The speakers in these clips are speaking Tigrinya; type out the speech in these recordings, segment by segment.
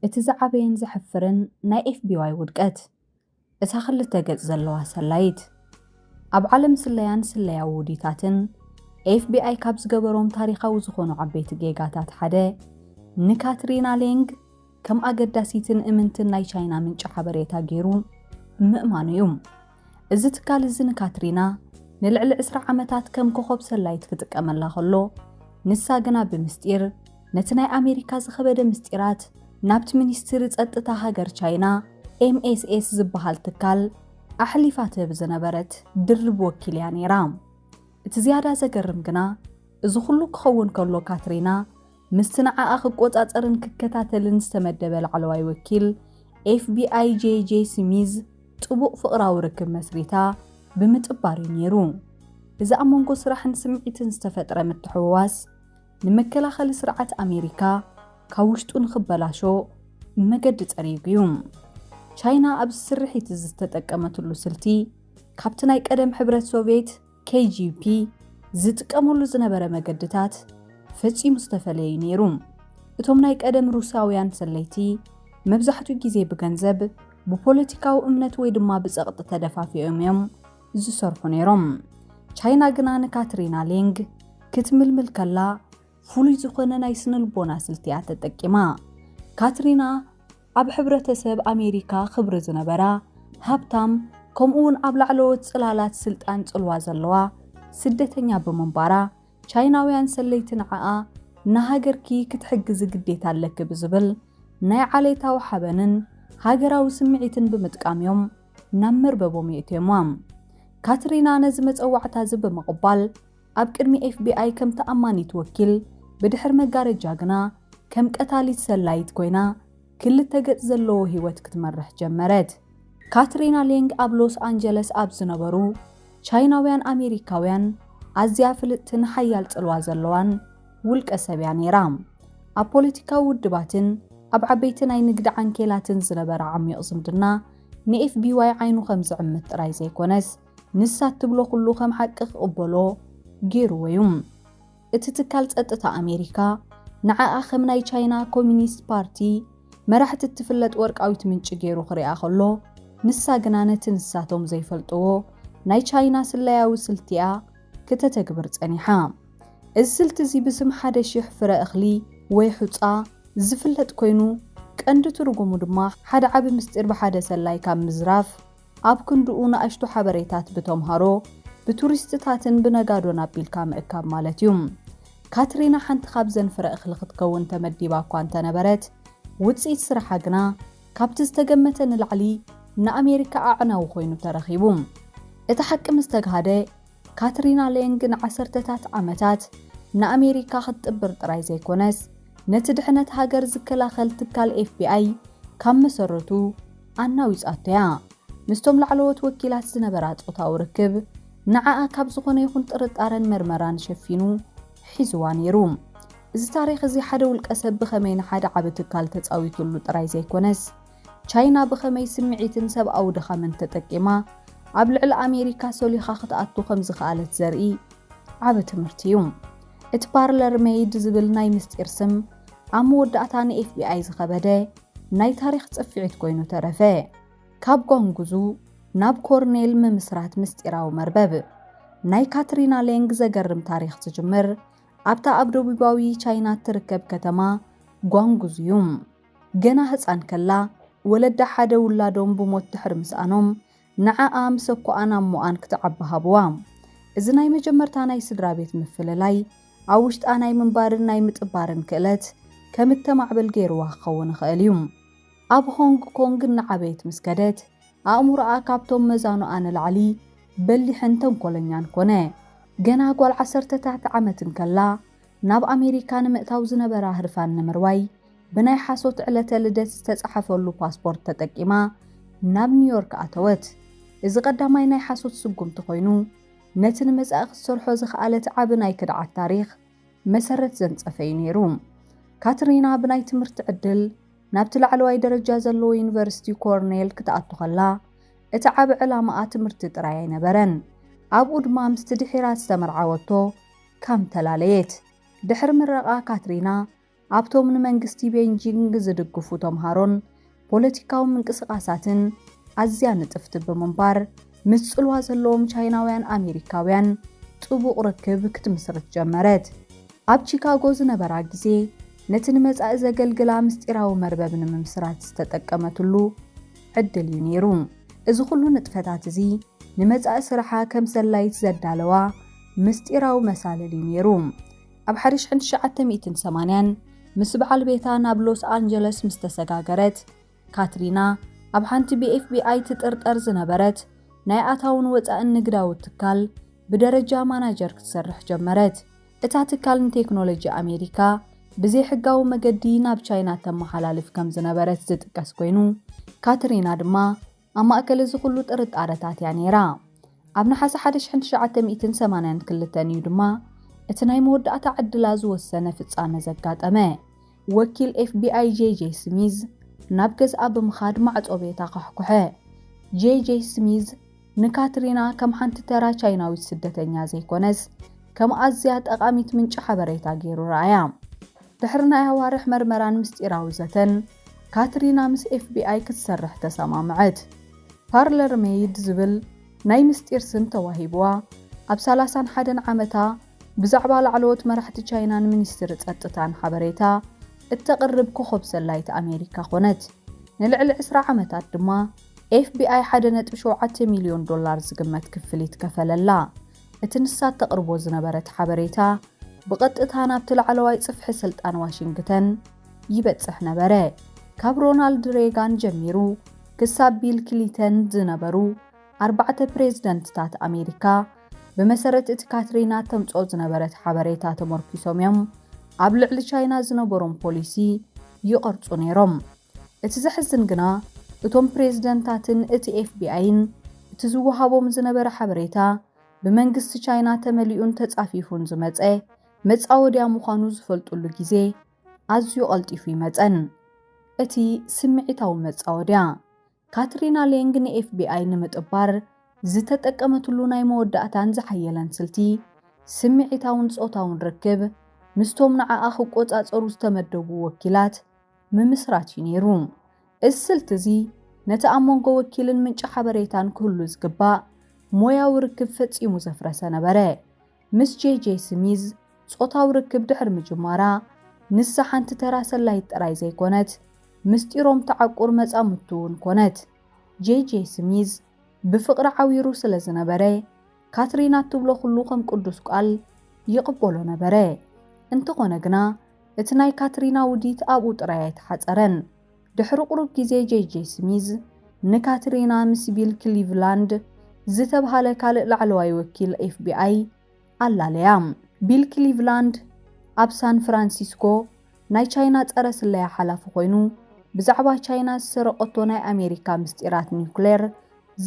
እቲ ዝዓበየን ዘሕፍርን ናይ ኤፍቢዋይ ውድቀት፣ እታ ክልተ ገጽ ዘለዋ ሰላዪት። ኣብ ዓለም ስለያን ስለያዊ ውዲታትን፣ ኤፍቢኣይ ካብ ዝገበሮም ታሪኻዊ ዝኾኑ ዓበይቲ ጌጋታት ሓደ፣ ንካትሪና ሌንግ ከም ኣገዳሲትን እምንትን ናይ ቻይና ምንጪ ሓበሬታ ገይሩ ምእማኑ እዩ። እዚ ትካል እዚ ንካትሪና ንልዕሊ ዕስራ ዓመታት ከም ኮኾብ ሰላዪት ክጥቀመላ ከሎ፣ ንሳ ግና ብምስጢር ነቲ ናይ ኣሜሪካ ዝኸበደ ምስጢራት ናብቲ ሚኒስትሪ ጸጥታ ሃገር ቻይና ኤምኤስኤስ ዝበሃል ትካል ኣሕሊፋ ትህብ ዝነበረት ድርብ ወኪል እያ ነይራ። እቲ ዝያዳ ዘገርም ግና እዚ ኹሉ ክኸውን ከሎ ካትሪና ምስቲ ንዓኣ ክቆጻጸርን ክከታተልን ዝተመደበ ላዕለዋይ ወኪል ኤፍቢኣይ ጄይ ጄይ ስሚዝ ጥቡቕ ፍቕራዊ ርክብ መስሪታ ብምጥባር እዩ ነይሩ። እዚ ኣብ መንጎ ስራሕን ስምዒትን ዝተፈጥረ ምትሕውዋስ ንመከላኸሊ ስርዓት ኣሜሪካ ካብ ውሽጡ ንኽበላሾ መገዲ ጸሪጉ እዩ። ቻይና ኣብዚ ስርሒት እዚ ዝተጠቀመትሉ ስልቲ ካብቲ ናይ ቀደም ሕብረት ሶቭየት KGP ዝጥቀመሉ ዝነበረ መገድታት ፈጺሙ ዝተፈለየ እዩ ነይሩ። እቶም ናይ ቀደም ሩስያውያን ሰለይቲ መብዛሕትኡ ግዜ ብገንዘብ፣ ብፖለቲካዊ እምነት ወይ ድማ ብጸቕጢ ተደፋፊኦም እዮም ዝሰርሑ ነይሮም። ቻይና ግና ንካትሪና ሌንግ ክትምልምል ከላ ፍሉይ ዝኾነ ናይ ስነልቦና ስልቲ እያ ተጠቂማ። ካትሪና ኣብ ሕብረተሰብ ኣሜሪካ ክብሪ ዝነበራ፣ ሃብታም፣ ከምኡ'ውን ኣብ ላዕለዎት ጽላላት ስልጣን ጽልዋ ዘለዋ ስደተኛ ብምንባራ፣ ቻይናውያን ሰለይቲ ንዓኣ ንሃገርኪ ክትሕግዚ ግዴታ ኣለኪ ብዝብል ናይ ዓሌታዊ ሓበንን ሃገራዊ ስምዒትን ብምጥቃም'ዮም ናብ መርበቦም የእትዮማ። ካትሪና ነዚ መጸዋዕታ'ዚ ብምቕባል፣ ኣብ ቅድሚ ኤፍቢኣይ ከም ተኣማኒት ወኪል፣ ብድሕሪ መጋረጃ ግና ከም ቀታሊት ሰላዪት ኰይና ክልተ ገጽ ዘለዎ ህይወት ክትመርሕ ጀመረት። ካትሪና ሌንግ ኣብ ሎስ ኣንጀለስ ኣብ ዝነበሩ ቻይናውያን ኣሜሪካውያን ኣዝያ ፍልጥትን ሓያል ጽልዋ ዘለዋን ውልቀሰብ እያ ነይራ። ኣብ ፖለቲካዊ ውድባትን ኣብ ዓበይቲ ናይ ንግዲ ዓንኬላትን ዝነበራ ዓሚቝ ዝምድና ንኤፍቢዋይ ዓይኑ ከም ዝዕምት ጥራይ ዘይኰነስ፣ ንሳ እትብሎ ኩሉ ከም ሓቂ ክቕበሎ ገይሩዎ'ዩ። እቲ ትካል ጸጥታ ኣሜሪካ፣ ንዓኣ ከም ናይ ቻይና ኮሚኒስት ፓርቲ መራሕቲ እትፍለጥ ወርቃዊት ምንጪ ገይሩ ክሪኣ ከሎ፣ ንሳ ግና ነቲ ንሳቶም ዘይፈልጥዎ ናይ ቻይና ስለያዊ ስልቲ'ያ ክተተግብር ጸኒሓ። እዚ ስልቲ'ዚ ብስም ሓደ ሽሕ ፍረ እኽሊ ወይ ሑጻ ዝፍለጥ ኮይኑ፣ ቀንዲ ትርጉሙ ድማ ሓደ ዓቢ ምስጢር ብሓደ ሰላይ ካብ ምዝራፍ፣ ኣብ ክንድኡ ንኣሽቱ ሓበሬታት ብተምሃሮ፣ ብቱሪስትታትን ብነጋዶን ኣቢልካ ምእካብ ማለት እዩ። ካትሪና ሓንቲ ካብዘን ፍረ እኽሊ ክትከውን ተመዲባ እኳ እንተነበረት፣ ውጽኢት ስራሓ ግና ካብቲ ዝተገመተ ንላዕሊ ንኣሜሪካ ኣዕናዊ ኮይኑ ተረኺቡ። እቲ ሓቂ ምስ ተግሃደ፣ ካትሪና ሌንግ ንዓሰርተታት ዓመታት ንኣሜሪካ ክትጥብር ጥራይ ዘይኮነስ፣ ነቲ ድሕነት ሃገር ዝከላኸል ትካል ኤፍቢኣይ ካብ መሰረቱ ኣናዊጻቶ እያ። ምስቶም ላዕለዎት ወኪላት ዝነበራ ጾታዊ ርክብ፣ ንዓኣ ካብ ዝኾነ ይኹን ጥርጣረን መርመራን ሸፊኑ ሒዙዋ ነይሩ። እዚ ታሪኽ እዚ ሓደ ውልቀሰብ ብኸመይ ንሓደ ዓቢ ትካል ተጻዊቱሉ ጥራይ ዘይኮነስ፣ ቻይና ብኸመይ ስምዒትን ሰብኣዊ ድኻምን ተጠቂማ ኣብ ልዕሊ ኣሜሪካ ሰሊኻ ክትኣቱ ከም ዝኸኣለት ዘርኢ ዓቢ ትምህርቲ እዩ። እቲ ፓርለር ሜይድ ዝብል ናይ ምስጢር ስም፣ ኣብ መወዳእታ ንኤፍቢኣይ ዝኸበደ ናይ ታሪኽ ጽፍዒት ኮይኑ ተረፈ። ካብ ጓንጉዙ ናብ ኮርኔል ምምስራት ምስጢራዊ መርበብ ናይ ካትሪና ሌንግ ዘገርም ታሪኽ ዝጅምር ኣብታ ኣብ ደቡባዊ ቻይና እትርከብ ከተማ ጓንጉዙ እዩ። ገና ህጻን ከላ ወለዳ ሓደ ውላዶም ብሞት ድሕሪ ምስኣኖም ንዓኣ ምስ ኣኮኣን ኣሞኣን ክትዓቢ ሃብዋ። እዚ ናይ መጀመርታ ናይ ስድራቤት ምፍልላይ፣ ኣብ ውሽጣ ናይ ምንባርን ናይ ምጥባርን ክእለት ከም እተማዕብል ገይርዋ ክኸውን ይኽእል እዩ። ኣብ ሆንግ ኮንግ እናዓበየት ምስ ከደት፣ ኣእምሮኣ ካብቶም መዛኑኣ ንላዕሊ በሊሕን ተንኰለኛን ኰነ። ገና ጓል ዓሰርተታት ዓመት እንከላ፣ ናብ ኣሜሪካ ንምእታው ዝነበራ ህርፋን ንምርዋይ፣ ብናይ ሓሶት ዕለተ ልደት ዝተጻሕፈሉ ፓስፖርት ተጠቂማ ናብ ኒውዮርክ ኣተወት። እዚ ቀዳማይ ናይ ሓሶት ስጉምቲ ኮይኑ፣ ነቲ ንመጻኢ ክትሰርሖ ዝኸኣለት ዓቢ ናይ ክድዓት ታሪኽ መሰረት ዘንጸፈ እዩ ነይሩ። ካትሪና ብናይ ትምህርቲ ዕድል ናብቲ ላዕለዋይ ደረጃ ዘለዎ ዩኒቨርሲቲ ኮርኔል ክትኣቱ ከላ፣ እቲ ዓቢ ዕላማኣ ትምህርቲ ጥራይ ኣይነበረን። ኣብኡ ድማ ምስቲ ድሒራ ዝተመርዓወቶ ካም ተላለየት። ድሕሪ ምረቓ ካትሪና ኣብቶም ንመንግስቲ ቤይጂንግ ዝድግፉ ተምሃሮን ፖለቲካዊ ምንቅስቓሳትን ኣዝያ ንጥፍቲ ብምንባር፣ ምስ ጽልዋ ዘለዎም ቻይናውያን ኣሜሪካውያን ጥቡቕ ርክብ ክትምስርት ጀመረት። ኣብ ቺካጎ ዝነበራ ግዜ ነቲ ንመጻኢ ዘገልግላ ምስጢራዊ መርበብ ንምምስራት ዝተጠቀመትሉ ዕድል እዩ ነይሩ። እዚ ኹሉ ንጥፈታት እዚ ንመጻኢ ስርሓ ከም ሰላዪት ዘዳለዋ ምስጢራዊ መሳልል እዩ ነይሩ። ኣብ ሓደ ሽሕን ትሽዓተ ሚእትን ሰማንያን ምስ በዓል ቤታ ናብ ሎስ ኣንጀለስ ምስ ተሰጋገረት፣ ካትሪና ኣብ ሓንቲ ብኤፍቢኣይ ትጥርጠር ዝነበረት ናይ ኣታውን ወጻእን ንግዳዊ ትካል ብደረጃ ማናጀር ክትሰርሕ ጀመረት። እታ ትካል ንቴክኖሎጂ ኣሜሪካ ብዘይሕጋዊ መገዲ ናብ ቻይና እተመሓላልፍ ከም ዝነበረት ዝጥቀስ ኰይኑ፣ ካትሪና ድማ ኣብ ማእከል እዚ ዅሉ ጥርጣረታት እያ ነይራ። ኣብ ነሓሰ ሓደ ሽሕን ትሽዓተ ሚእትን ሰማንያን ክልተን እዩ ድማ እቲ ናይ መወዳእታ ዕድላ ዝወሰነ ፍጻመ ዘጋጠመ። ወኪል ኤፍቢኣይ ጄይ ጄይ ስሚዝ ናብ ገዝኣ ብምኻድ ማዕጾ ቤታ ኳሕኵሐ። ጄይ ጄይ ስሚዝ ንካትሪና ከም ሓንቲ ተራ ቻይናዊት ስደተኛ ዘይኰነስ ከም ኣዝያ ጠቓሚት ምንጪ ሓበሬታ ገይሩ ረኣያ። ድሕሪ ናይ ኣዋርሕ መርመራን ምስጢራዊ ዘተን፣ ካትሪና ምስ ኤፍቢኣይ ክትሰርሕ ተሰማምዐት። ፓርለር ሜይድ ዝብል ናይ ምስጢር ስም ተዋሂቡዋ። ኣብ ሰላሳን ሓደን ዓመታ ብዛዕባ ላዕለዎት መራሕቲ ቻይናን ሚኒስትሪ ጸጥታን ሓበሬታ እተቕርብ ኮኾብ ሰላዪት ኣሜሪካ ኰነት። ንልዕሊ ዕስራ ዓመታት ድማ ኤፍቢኣይ ሓደ ነጥቢ ሸውዓተ ሚልዮን ዶላር ዝግመት ክፍሊት ከፈለላ። እቲ ንሳ እተቕርቦ ዝነበረት ሓበሬታ ብቐጥታ ናብቲ ላዕለዋይ ጽፍሒ ስልጣን ዋሽንግተን ይበጽሕ ነበረ። ካብ ሮናልድ ሬጋን ጀሚሩ ክሳብ ቢል ክሊተን ዝነበሩ ኣርባዕተ ፕሬዝደንትታት ኣሜሪካ፣ ብመሰረት እቲ ካትሪና እተምጽኦ ዝነበረት ሓበሬታ ተመርኲሶም እዮም ኣብ ልዕሊ ቻይና ዝነበሮም ፖሊሲ ይቐርጹ ነይሮም። እቲ ዘሕዝን ግና እቶም ፕሬዝደንታትን እቲ ኤፍቢኣይን እቲ ዝወሃቦም ዝነበረ ሓበሬታ ብመንግስቲ ቻይና ተመሊኡን ተፃፊፉን ዝመፀ መፃወድያ ምዃኑ ዝፈልጡሉ ግዜ ኣዝዩ ቐልጢፉ ይመፀን። እቲ ስምዒታዊ መፃወድያ ካትሪና ሌንግ ንኤፍቢኣይ ንምጥባር ዝተጠቀመትሉ ናይ መወዳእታን ዝሓየለን ስልቲ፣ ስምዒታውን ጾታውን ርክብ ምስቶም ንዓኣ ክቆጻጸሩ ዝተመደቡ ወኪላት ምምስራት እዩ ነይሩ። እዚ ስልቲ እዚ ነቲ ኣብ መንጎ ወኪልን ምንጪ ሓበሬታን ክህሉ ዝግባእ ሞያዊ ርክብ ፈጺሙ ዘፍረሰ ነበረ። ምስ ጄ-ጄ ስሚዝ ጾታዊ ርክብ ድሕሪ ምጅማራ፣ ንሳ ሓንቲ ተራ ሰላዪት ጥራይ ዘይኰነት፣ ምስጢሮም ትዓቍር መጻምድቱ እውን ኰነት። ጄ-ጄ ስሚዝ ብፍቕሪ ዓዊሩ ስለ ዝነበረ፣ ካትሪና እትብሎ ዅሉ ኸም ቅዱስ ቃል ይቕበሎ ነበረ። እንተዀነ ግና፣ እቲ ናይ ካትሪና ውዲት ኣብኡ ጥራይ ኣይተሓጸረን። ድሕሪ ቁሩብ ግዜ ጄይጄይ ስሚዝ ንካትሪና ምስ ቢል ክሊቭላንድ ዝተብሃለ ካልእ ላዕለዋይ ወኪል ኤፍቢኣይ ኣላለያ። ቢል ክሊቭላንድ ኣብ ሳን ፍራንሲስኮ ናይ ቻይና ጸረ ስለያ ሓላፊ ኮይኑ ብዛዕባ ቻይና ዝሰረቐቶ ናይ ኣሜሪካ ምስጢራት ኒዩክሌር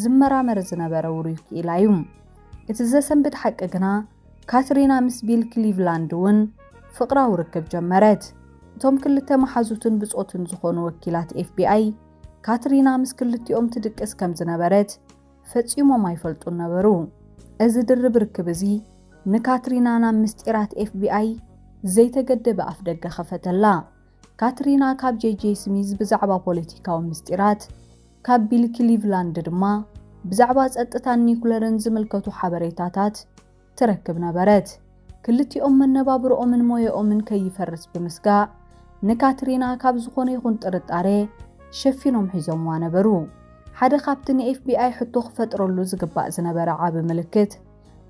ዝመራመር ዝነበረ ውሩይ ክኢላ እዩ። እቲ ዘሰንብድ ሓቂ ግና፣ ካትሪና ምስ ቢል ክሊቭላንድ እውን ፍቕራዊ ርክብ ጀመረት። እቶም ክልተ መሓዙትን ብጾትን ዝዀኑ ወኪላት ኤፍቢኣይ፣ ካትሪና ምስ ክልቲኦም ትድቅስ ከም ዝነበረት ፈጺሞም ኣይፈልጡን ነበሩ። እዚ ድርብ ርክብ እዚ ንካትሪና ናብ ምስጢራት ኤፍቢኣይ ዘይተገደበ ኣፍደገ ኸፈተላ። ካትሪና ካብ ጄጄ ስሚዝ ብዛዕባ ፖለቲካዊ ምስጢራት፣ ካብ ቢል ክሊቭላንድ ድማ ብዛዕባ ጸጥታን ኒዩክለርን ዝምልከቱ ሓበሬታታት ትረክብ ነበረት። ክልቲኦም መነባብሮኦምን ሞያኦምን ከይፈርስ ብምስጋእ፣ ንካትሪና ካብ ዝኾነ ይኹን ጥርጣረ ሸፊኖም ሒዞምዋ ነበሩ። ሓደ ካብቲ ንኤፍቢኣይ ሕቶ ክፈጥረሉ ዝግባእ ዝነበረ ዓቢ ምልክት፣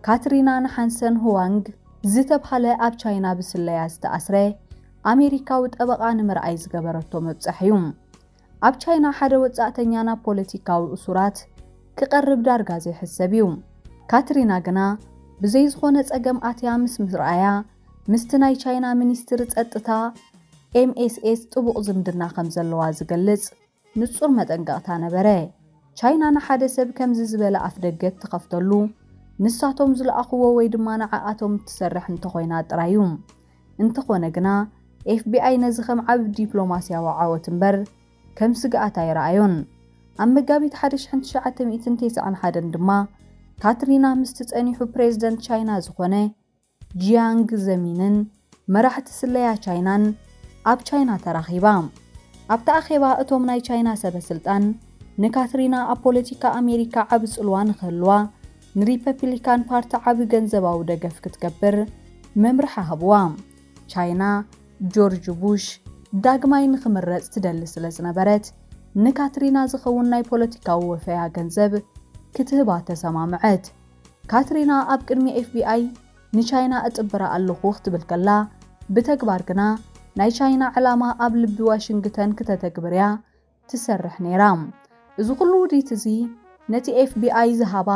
ካትሪና ንሓንሰን ሁዋንግ ዝተብሃለ ኣብ ቻይና ብስለያ ዝተኣስረ ኣሜሪካዊ ጠበቓ ንምርኣይ ዝገበረቶ መብጸሕ'ዩ። ኣብ ቻይና ሓደ ወጻእተኛ ናብ ፖለቲካዊ እሱራት ክቐርብ ዳርጋ ዘይሕሰብ'ዩ። ካትሪና ግና ብዘይ ዝኾነ ጸገም ኣትያ ምስ ምርኣያ፣ ምስቲ ናይ ቻይና ሚኒስትሪ ጸጥታ፣ ኤምኤስኤስ፣ ጥቡቕ ዝምድና ከምዘለዋ ዝገልጽ፣ ንጹር መጠንቀቕታ ነበረ። ቻይና ንሓደ ሰብ ከምዚ ዝበለ ኣፍደገ እትኸፍተሉ፣ ንሳቶም ዝለኣኹዎ ወይ ድማ ንዓኣቶም እትሰርሕ እንተኾይና ጥራይ እዩ። እንተኾነ ግና፣ ኤፍቢኣይ ነዚ ከም ዓቢ ዲፕሎማስያዊ ዓወት እምበር ከም ስግኣት ኣይረኣዮን። ኣብ መጋቢት ሓደ ሽሕን ትሽዓተ ሚእትን ቴስዓን ሓደን ድማ፣ ካትሪና ምስቲ ጸኒሑ ፕሬዝደንት ቻይና ዝኾነ፣ ጂያንግ ዘሚንን መራሕቲ ስለያ ቻይናን ኣብ ቻይና ተራኺባ። ኣብቲ ኣኼባ እቶም ናይ ቻይና ሰበ ስልጣን ንካትሪና ኣብ ፖለቲካ ኣሜሪካ ዓቢ ጽልዋ ንኽህልዋ ንሪፐፒሊካን ፓርቲ ዓቢ ገንዘባዊ ደገፍ ክትገብር መምርሒ ሃብዋ። ቻይና ጆርጅ ቡሽ ዳግማይ ንኽምረጽ ትደሊ ስለ ዝነበረት ንካትሪና ዝኸውን ናይ ፖለቲካዊ ወፈያ ገንዘብ ክትህባ ተሰማምዐት። ካትሪና ኣብ ቅድሚ ኤፍቢኣይ ንቻይና እጥብራ ኣለኹ ክትብል ከላ፣ ብተግባር ግና ናይ ቻይና ዕላማ ኣብ ልቢ ዋሽንግተን ክተተግብር እያ ትሰርሕ ነይራ። እዚ ኹሉ ውዲት እዚ ነቲ ኤፍቢኣይ ዝሃባ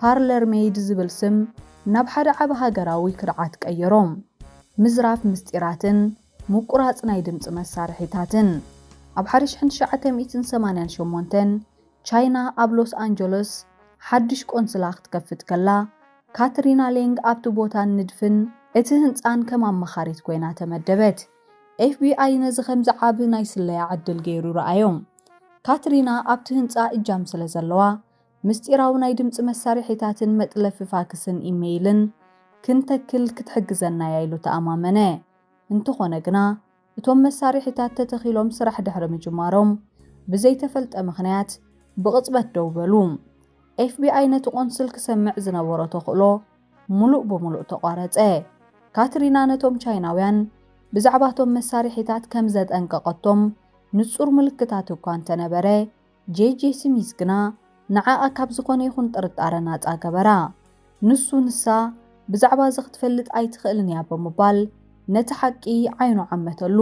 ፓርለር ሜይድ ዝብል ስም ናብ ሓደ ዓቢ ሃገራዊ ክድዓት ቀየሮ። ምዝራፍ ምስጢራትን ምቁራጽ ናይ ድምጺ መሳርሒታትን። ኣብ ሓደ ሽሕን ትሽዓተ ሚእትን ሰማንያን ሸሞንተን ቻይና ኣብ ሎስ ኣንጀሎስ ሓድሽ ቆንስላ ክትከፍት ከላ፣ ካትሪና ሌንግ ኣብቲ ቦታን ንድፍን እቲ ህንጻን ከም ኣማኻሪት ኰይና ተመደበት። ኤፍቢኣይ ነዚ ኸምዚ ዓቢ ናይ ስለያ ዕድል ገይሩ ረኣዮ። ካትሪና ኣብቲ ህንጻ እጃም ስለ ዘለዋ፣ ምስጢራዊ ናይ ድምጺ መሳርሒታትን መጥለፊ ፋክስን ኢመይልን ክንተክል ክትሕግዘና'ያ ኢሉ ተኣማመነ። እንተዀነ ግና፣ እቶም መሳርሒታት ተተኺሎም ስራሕ ድሕሪ ምጅማሮም ብዘይተፈልጠ ምኽንያት ብቕጽበት ደው በሉ። ኤፍቢኣይ ነቲ ቆንስል ክሰምዕ ዝነበሮ ተኽእሎ ምሉእ ብምሉእ ተቋረጸ። ካትሪና ነቶም ቻይናውያን ብዛዕባ እቶም መሳርሒታት ከም ዘጠንቀቐቶም ንጹር ምልክታት እኳ እንተነበረ፣ ጄጄ ስሚዝ ግና ንዓኣ ካብ ዝኾነ ይኹን ጥርጣረ ናጻ ገበራ። ንሱ ንሳ ብዛዕባ እዚ ክትፈልጥ ኣይትኽእልን እያ ብምባል ነቲ ሓቂ ዓይኑ ዓመተሉ።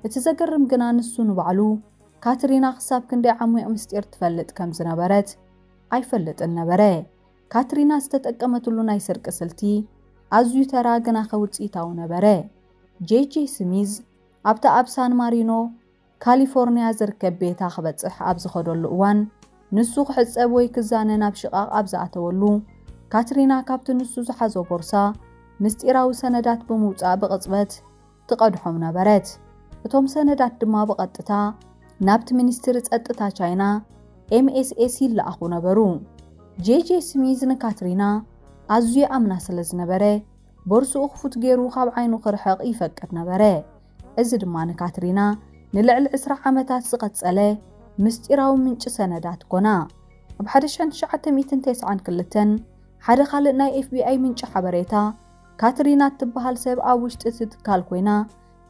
እቲ ዘገርም ግና ንሱ ንባዕሉ ካትሪና ክሳብ ክንደይ ዓሚቕ ምስጢር ትፈልጥ ከም ዝነበረት ኣይፈልጥን ነበረ። ካትሪና ዝተጠቀመትሉ ናይ ስርቂ ስልቲ ኣዝዩ ተራ ግናኸ ውጽኢታዊ ነበረ። ጄጄ ስሚዝ ኣብታ ኣብ ሳን ማሪኖ ካሊፎርንያ ዝርከብ ቤታ ክበጽሕ ኣብ ዝኸደሉ እዋን፣ ንሱ ክሕጸብ ወይ ክዛነ ናብ ሽቓቕ ኣብ ዝኣተወሉ፣ ካትሪና ካብቲ ንሱ ዝሓዞ ቦርሳ ምስጢራዊ ሰነዳት ብምውጻእ ብቕጽበት ትቐድሖም ነበረት። እቶም ሰነዳት ድማ ብቐጥታ ናብቲ ሚኒስትሪ ጸጥታ ቻይና፣ MSS፣ ይለኣኹ ነበሩ። ጄጄ ስሚዝ ንካትሪና ኣዝዩ ይኣምና ስለ ዝነበረ፣ ቦርስኡ ክፉት ገይሩ ካብ ዓይኑ ክርሕቕ ይፈቅድ ነበረ። እዚ ድማ ንካትሪና ንልዕሊ ዕስራ ዓመታት ዝቐጸለ ምስጢራዊ ምንጪ ሰነዳት ኰና። ኣብ ሓደ ሽሕን ትሽዓተ ሚእትን ተስዓን ክልተን፣ ሓደ ካልእ ናይ ኤፍቢኣይ ምንጪ ሓበሬታ፣ ካትሪና እትበሃል ሰብ ኣብ ውሽጢ እቲ ትካል ኰይና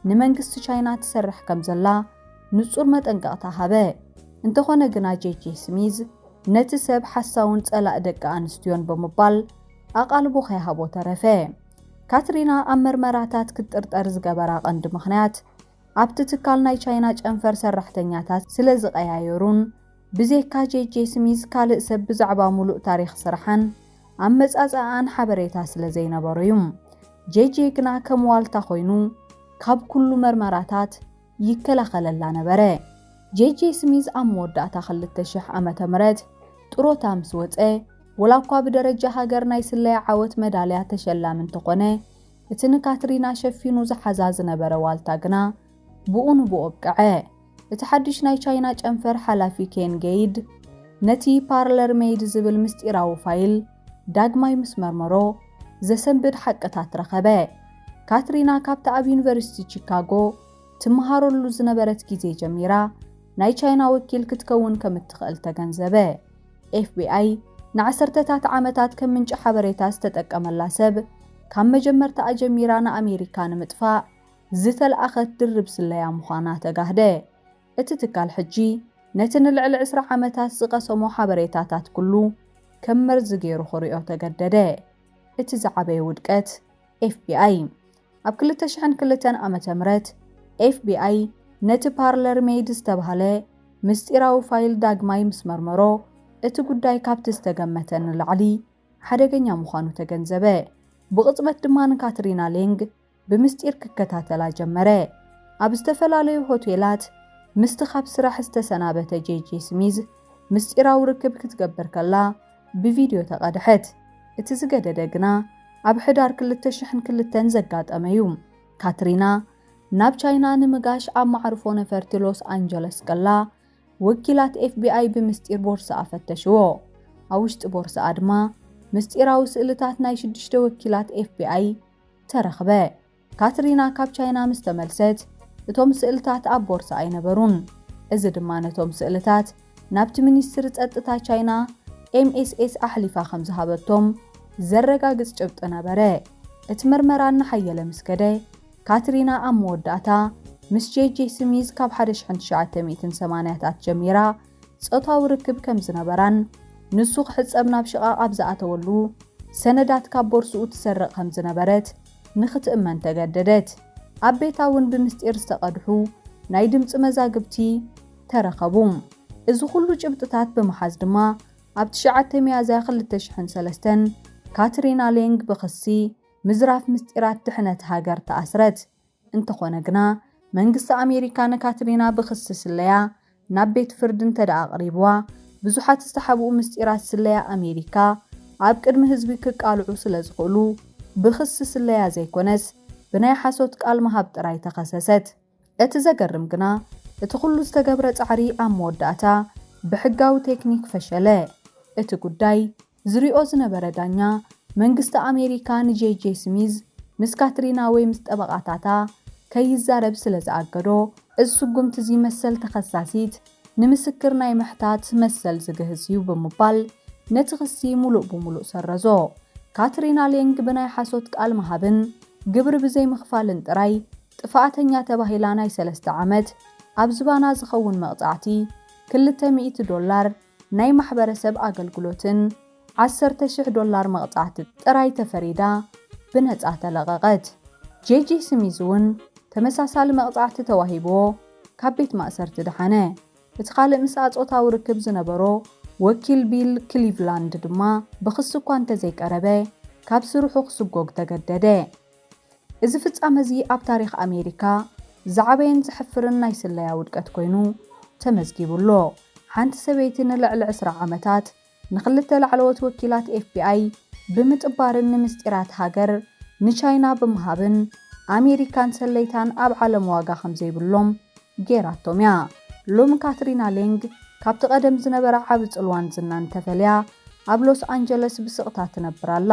ንመንግስቲ ቻይና ትሰርሕ ከም ዘላ ንጹር መጠንቀቕታ ሃበ። እንተዀነ ግና ጄጄ ስሚዝ ነቲ ሰብ ሓሳውን ጸላኢ ደቂ ኣንስትዮን ብምባል ኣቓልቦ ከይሃቦ ተረፈ። ካትሪና ኣብ መርመራታት ክትጥርጠር ዝገበራ ቀንዲ ምኽንያት፣ ኣብቲ ትካል ናይ ቻይና ጨንፈር ሰራሕተኛታት ስለ ዝቐያየሩን፣ ብዜካ ጄጄ ስሚዝ ካልእ ሰብ ብዛዕባ ምሉእ ታሪኽ ስራሓን ኣመጻጽኣኣን ሓበሬታ ስለ ዘይነበሮ'ዩ። ጄጄ ግና ከም ዋልታ ኮይኑ ካብ ኩሉ መርመራታት ይከላኸለላ ነበረ። ጄጄ ስሚዝ ኣብ መወዳእታ ክልተ ሽሕ ዓመተ ምህረት ጥሮታ ምስ ወጸ፣ ወላ እኳ ብደረጃ ሃገር ናይ ስለያ ዓወት መዳልያ ተሸላሚ እንተኾነ፣ እቲ ንካትሪና ሸፊኑ ዝሓዛ ዝነበረ ዋልታ ግና ብኡ ንብኡ ኣብቀዐ። እቲ ሓድሽ ናይ ቻይና ጨንፈር ሓላፊ ኬን ጌይድ ነቲ ፓርለር ሜይድ ዝብል ምስጢራዊ ፋይል፣ ዳግማይ ምስ መርመሮ ዘሰንብድ ሓቅታት ረኸበ። ካትሪና ካብቲ ኣብ ዩኒቨርሲቲ ቺካጎ ትመሃረሉ ዝነበረት ግዜ ጀሚራ ናይ ቻይና ወኪል ክትከውን ከም እትኽእል ተገንዘበ። ኤፍቢኣይ ንዓሰርተታት ዓመታት ከም ምንጪ ሓበሬታ ዝተጠቀመላ ሰብ ካብ መጀመርታኣ ጀሚራ ንኣሜሪካ ንምጥፋእ ዝተልኣኸት ድርብ ስለያ ምዃና ተጋህደ። እቲ ትካል ሕጂ ነቲ ንልዕሊ ዕስራ ዓመታት ዝቐሰሞ ሓበሬታታት ኩሉ ከም መርዚ ገይሩ ክርእዮ ተገደደ። እቲ ዝዓበየ ውድቀት ኤፍቢኣይ። ኣብ ክልተ ሽሕን ክልተን ዓመተ ምህረት ኤፍቢኣይ ነቲ ፓርለር ሜይድ ዝተባህለ ምስጢራዊ ፋይል ዳግማይ ምስ መርመሮ እቲ ጉዳይ ካብቲ ዝተገመተ ንላዕሊ ሓደገኛ ምዃኑ ተገንዘበ። ብቕጽበት ድማ ንካትሪና ሌንግ ብምስጢር ክከታተላ ጀመረ። ኣብ ዝተፈላለዩ ሆቴላት ምስቲ ካብ ስራሕ ዝተሰናበተ ጄጄ ስሚዝ ምስጢራዊ ርክብ ክትገብር ከላ ብቪድዮ ተቐድሐት። እቲ ዝገደደ ግና ኣብ ሕዳር ክልተ ሽሕን ክልተን ዘጋጠመ እዩ። ካትሪና ናብ ቻይና ንምጋሽ ኣብ መዓርፎ ነፈርቲ ሎስ ኣንጀለስ ከላ ወኪላት ኤፍቢኣይ ብምስጢር ቦርስኣ ፈተሽዎ። ኣብ ውሽጢ ቦርስኣ ድማ ምስጢራዊ ስእልታት ናይ ሽዱሽተ ወኪላት ኤፍቢኣይ ተረኽበ። ካትሪና ካብ ቻይና ምስ ተመልሰት፣ እቶም ስእልታት ኣብ ቦርሳ ኣይነበሩን፣ እዚ ድማ ነቶም ስእልታት ናብቲ ሚኒስትሪ ጸጥታ ቻይና፣ MSS፣ ኣሕሊፋ ከም ዝሃበቶም ዘረጋግጽ ጭብጢ ነበረ። እቲ መርመራ እናሓየለ ምስ ከደ፣ ካትሪና ኣብ መወዳእታ ምስ ጄጄ ስሚዝ ካብ ሓደ ሽሕን ትሽዓተ ሚእትን ሰማንያታት ጀሚራ ጾታዊ ርክብ ከም ዝነበራን ንሱ ክሕጸብ ናብ ሽቓቕ ኣብ ዝኣተወሉ ሰነዳት ካብ ቦርስኡ ትሰርቕ ከም ዝነበረት ንኽትእመን ተገደደት። ኣብ ቤታ እውን ብምስጢር ዝተቐድሑ ናይ ድምጺ መዛግብቲ ተረኸቡ። እዚ ዅሉ ጭብጥታት ብምሓዝ ድማ ኣብ ትሽዓተ ሚያዝያ ክልተ ሽሕን ሰለስተን ካትሪና ሌንግ ብኽሲ ምዝራፍ ምስጢራት ድሕነት ሃገር ተኣስረት። እንተኾነ ግና መንግስቲ ኣሜሪካ ንካትሪና ብክሲ ስለያ ናብ ቤት ፍርዲ እንተድኣ ኣቕሪብዋ ብዙሓት ዝተሓብኡ ምስጢራት ስለያ ኣሜሪካ ኣብ ቅድሚ ህዝቢ ክቃልዑ ስለዝኽእሉ ብክሲ ስለያ ዘይኮነስ ብናይ ሓሶት ቃል ምሃብ ጥራይ ተኸሰሰት። እቲ ዘገርም ግና እቲ ኩሉ ዝተገብረ ጻዕሪ ኣብ መወዳእታ ብሕጋዊ ቴክኒክ ፈሸለ። እቲ ጉዳይ ዝሪኦ ዝነበረ ዳኛ፣ መንግስቲ ኣሜሪካ ንጄይ-ጄ ስሚዝ ምስ ካትሪና ወይ ምስ ጠበቓታታ ከይዛረብ ስለ ዝኣገዶ፣ እዚ ስጉምቲ'ዚ መሰል ተኸሳሲት ንምስክር ናይ ምሕታት መሰል ዝግህስ እዩ ብምባል ነቲ ክሲ ምሉእ ብምሉእ ሰረዞ። ካትሪና ሌንግ ብናይ ሓሶት ቃል ምሃብን ግብሪ ብዘይምኽፋልን ጥራይ ጥፋኣተኛ ተባሂላ ናይ ሰለስተ ዓመት ኣብ ዝባና ዝኸውን መቕጻዕቲ፣ ክልተ ሚእቲ ዶላር፣ ናይ ማሕበረሰብ ኣገልግሎትን ዓሰርተ ሽሕ ዶላር መቕጻዕቲ ጥራይ ተፈሪዳ ብነጻ ተለቐቐት። ጄጂ ስሚዝ'ውን ተመሳሳሊ መቕጻዕቲ ተዋሂብዎ ካብ ቤት ማእሰርቲ ደሓነ። እቲ ካልእ ምስኣ ጾታዊ ርክብ ዝነበሮ ወኪል ቢል ክሊቭላንድ ድማ ብኽሲ እኳ እንተዘይቀረበ ካብ ስርሑ ክስጎግ ተገደደ። እዚ ፍጻመ'ዚ ኣብ ታሪኽ ኣሜሪካ ዝዓበየን ዘሕፍርን ናይ ስለያ ውድቀት ኮይኑ ተመዝጊቡ ኣሎ። ሓንቲ ሰበይቲ ንልዕሊ ዕስራ ዓመታት ንኽልተ ላዕለዎት ወኪላት ኤፍቢኣይ ብምጥባርን ንምስጢራት ሃገር ንቻይና ብምሃብን ኣሜሪካን ሰለይታን ኣብ ዓለም ዋጋ ከምዘይብሎም ገይራቶም'ያ። ሎሚ ካትሪና ሌንግ ካብቲ ቀደም ዝነበራ ዓቢ ጽልዋን ዝናን ተፈልያ ኣብ ሎስ ኣንጀለስ ብስቕታ ትነብር ኣላ።